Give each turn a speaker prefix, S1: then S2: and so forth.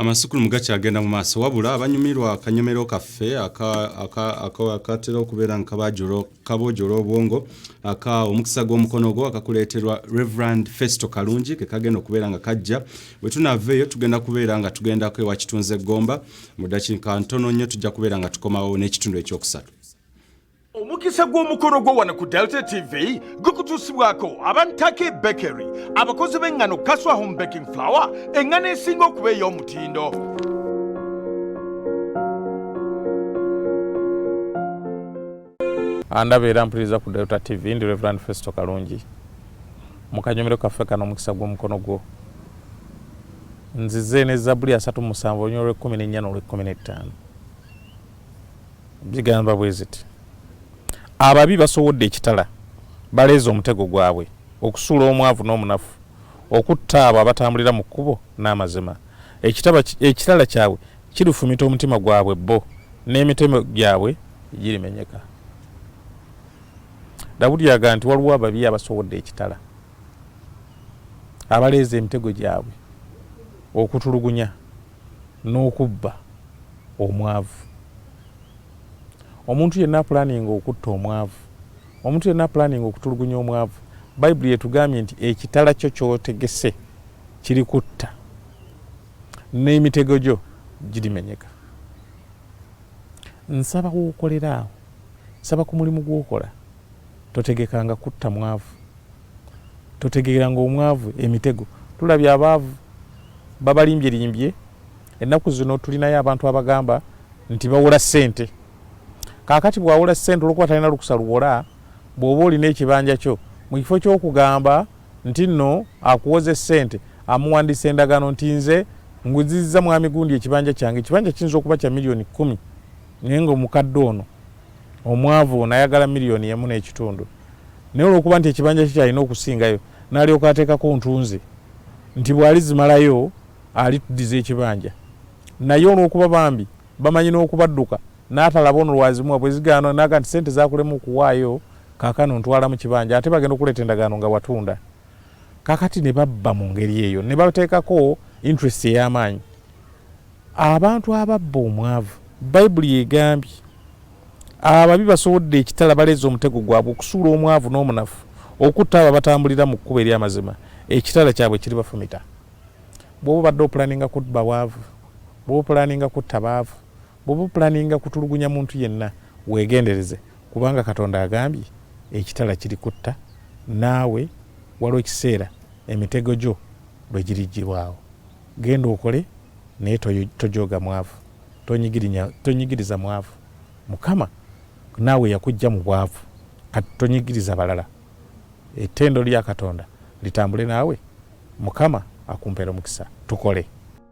S1: amasukulumu gakyagenda mu maaso wabula abanyumirwa akanyomero kaffe akatera okubeera nga kaboojola obwongo aka omukisa gw'omukono gwo akakuleeterwa reverand festo kalungi ke kagenda okubeera nga kajja bwe tunaava eyo tugenda kubeera nga tugendako ewa kitunze gomba mu dakiika ntono nnyo tujja kubeera nga tukomawo n'ekitundu ekyokusatu omukisa
S2: gw'omukolo gwo wano ku delta tv gukutuusibwako abantake bakery abakozi b'engano kaswa home baking flower engano esinga okuba ey'omutindo
S3: andaba era mpuliriza ku delta tv ndi reverand festo kalungi mu kanyomero kaffe kano omukisa gw'omukono gwo nzize ne zabuli asatu musanvu olunyolo lw'ekkumi n'ennya n'olw'ekkumi n'ettaano zigamba bwe ziti ababi basowodde ekitala baleeze omutego gwabwe okusuula omwavu n'omunafu okutta abo abatambulira mu kkubo n'amazima ekitala kyabwe kirufumita omutima gwabwe bo n'emitemo gyabwe girimenyeka dawudi yaga nti waliwo ababi abasowodde ekitala abaleeza emitego gyabwe okutulugunya n'okubba omwavu. Omuntu yenna apulaninga okutta omwavu, omuntu yenna apulaninga okutulugunya omwavu, Bayibuli etugambye nti ekitala kyo ky'otegese kirikutta, n'emitego gyo girimenyeka. Nsaba w'okolera awo, nsaba ku mulimu gw'okola. Totegekanga kutta mwavu. Totegeranga omwavu emitego. Tulabye abaavu babalimbyelimbye. Ennaku zino tulinayo abantu abagamba nti bawola ssente. Kaakati bw'awola ssente olw'okuba talina lukusa luwola, bw'oba olina ekibanja kyo, mu kifo ky'okugamba nti nno akuwoze ssente, amuwandiisa endagaano nti nze nguzizza Mwami Gundi ekibanja kyange. Ekibanja kiyinza okuba kya million kkumi naye ng'omukadde ono, Omwavu ono ayagala miriyoni emu n'ekitundu naye olw'okuba nti ekibanja kye kyalina okusingayo n'alyoka ateekako ntunzi nti bw'alizimalayo alituddiza ekibanja naye olw'okuba bambi bamanyi n'okubadduka n'atalaba ono lwazimuwa bwe zigaana n'aga nti ssente zaakulema okuwaayo kaakano ntwala mu kibanja ate bagenda okuleeta endagaano nga watunda. kakati ne babba mu ngeri eyo ne bateekako interest ey'amaanyi abantu ababba omwavu bayibuli yegambye ababi basobodde ekitala baleeza omutego gwabwe okusuula omwavu n'omunafu okutta abo abatambulira mu kkuba ery'amazima ekitala kyabwe kiri bafumita bwoba obadde opulaninga kubba bwavu bwoba opulaninga kutta baavu Bwoba opulaninga kutulugunya muntu yenna wegendereze kubanga Katonda agambye ekitala kiri kutta naawe waliwo ekiseera emitego gyo lwegirijjibwawo. Genda okole naye tojooga mwavu, tonyigiriza mwavu. Mukama naawe yakujja mu bwavu kati tonyigiriza balala. Ettendo lya Katonda litambule naawe, Mukama akumpere omukisa. Tukole.